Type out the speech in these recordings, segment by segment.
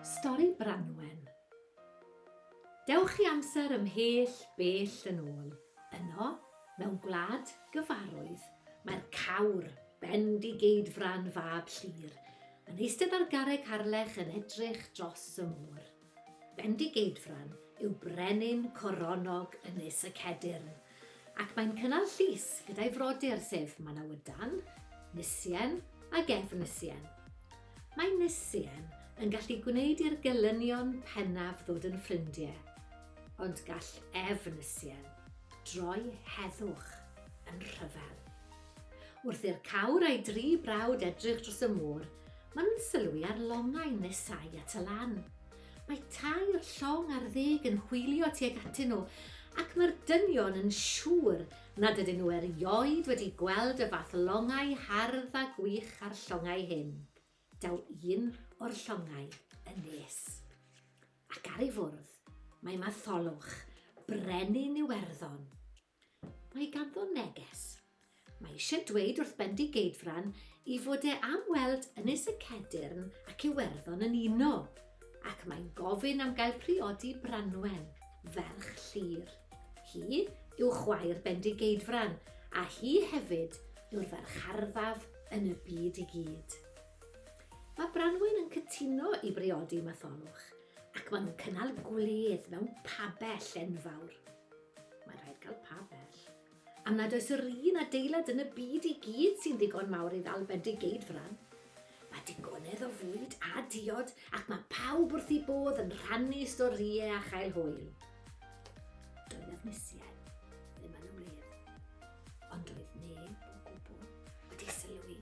Stori Branwen Dewch i amser ymhell bell yn ôl. Yno, mewn gwlad gyfarwydd, mae'r cawr, Bendigeidfran fab Llŷr, yn eistedd ar garreg harlech yn edrych dros y môr. Bendigeidfran yw brenin coronog Ynys y Cedyrn, ac mae'n cynnal llys gyda'i frodyr sef Manawydan, Nisien ac Efnisien. Mae Nisien yn gallu gwneud i'r gelynion pennaf ddod yn ffrindiau, ond gall Efnisien droi heddwch yn rhyfel. Wrth i'r cawr a'i dri brawd edrych dros y môr, maen nhw'n sylwi ar longau nesau at y lan. Mae tair llong ar ddeg yn hwylio tuag atyn nhw, ac mae'r dynion yn siŵr nad ydyn nhw erioed wedi gweld y fath longau hardd a gwych a'r llongau hyn. Daw un o'r llongau yn nes. Ac ar ei fwrdd, mae Matholwch, brenin Iwerddon. Mae ganddo neges. Mae eisiau dweud wrth Bendigeidfran i fod e am weld Ynys y Cedyrn ac Iwerddon yn uno, ac mae'n gofyn am gael priodi Branwen, ferch Llyr. Hi yw chwaer Bendigeidfran, a hi hefyd yw'r ferch arfaf yn y byd i gyd. Mae Branwen yn cytuno i briodi Matholwch, ac maen nhw'n cynnal gwledd mewn pabell enfawr. Mae'n rhaid cael pabell. Am nad oes yr un adeilad yn y byd i gyd sy'n ddigon mawr i ddal Bendigeidfran. Mae digonedd o fwyd a diod ac mae pawb wrth i bodd yn rhannu storïau a chael hwyl. Doedd Efnisien ddim yn y wledd, ond doedd neb o gwbl wedi sylwi.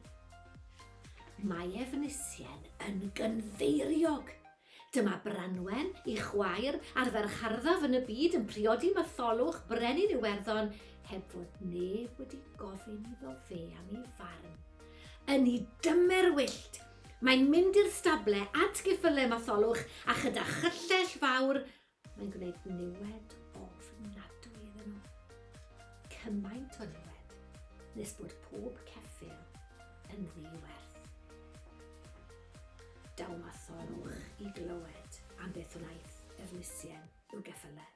Mae Efnisien yn gynfeiriog Dyma Branwen, ei chwaer, a'r ferch harddaf yn y byd yn priodi Matholwch, Brenin Iwerddon, heb fod neb wedi gofyn iddo fe am ei farn. Yn ei dymer wyllt, mae'n mynd i'r stable at geffylau Matholwch a chyda chyllell fawr Mae'n gwneud niwed ofnadwy iddyn nhw. Cymaint o niwed nes bod pob ceffyl yn ddi-werth. Dawmatholwch i glywed am beth wnaeth Efnisien i'w geffylau.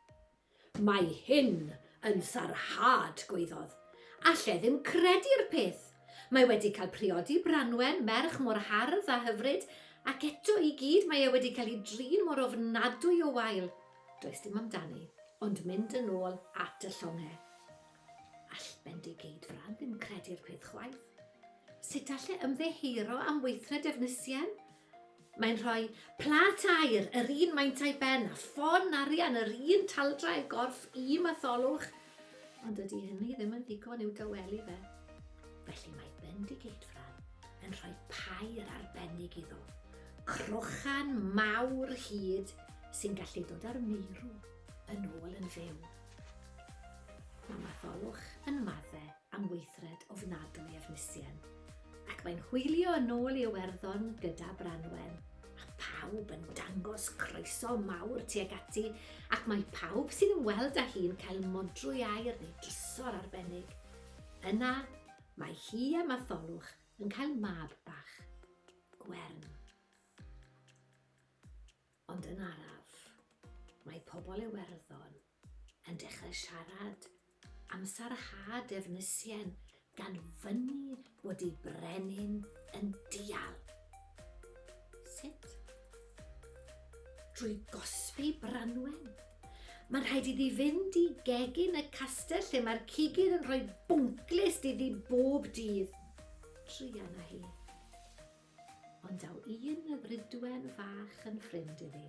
Mae hyn yn sarhad, gwaeddodd. Alla i ddim credu'r peth! Mae wedi cael priodi Branwen, merch mor hardd a hyfryd, ac eto i gyd mae e wedi cael ei drin mor ofnadwy o wael. Does dim amdani, ond mynd yn ôl at y llongau. All Bendigeidfran ddim credu'r peth chwaith. Sut alle ymddeheuro am weithred Efnisien? Mae'n rhoi plât aer yr un maint a'i ben a ffon arian yr un taldrau'r gorff i Matholwch, ond dydy hynny ddim yn ddigon i'w dawelu fe. Felly mae Bendigeidfran yn rhoi pair arbennig iddo, crochan mawr hyd sy'n gallu dod â'r meirw yn ôl yn fyw. Mae Matholwch yn madde am weithred ofnadwy Efnisien, ac mae'n hwylio yn ôl i Iwerddon gyda Branwen, a phawb yn dangos croeso mawr tuag ati, ac mae pawb sy'n ymweld â hi'n cael modrwy aer neu drysor arbennig. Yna, mae hi a Matholwch yn cael mab bach, Gwern. Ond yn araf, mae pobl Iwerddon yn dechrau siarad am sarhad Efnisien gan fynnu bod ei brenin yn dial. Sut? Drwy gosbi Branwen. Mae'n rhaid iddi fynd i gegin y castell lle mae'r cigydd yn rhoi bwnglist iddi bob dydd. Trian a hi. Ond daw un y fridwen fach yn ffrind iddi.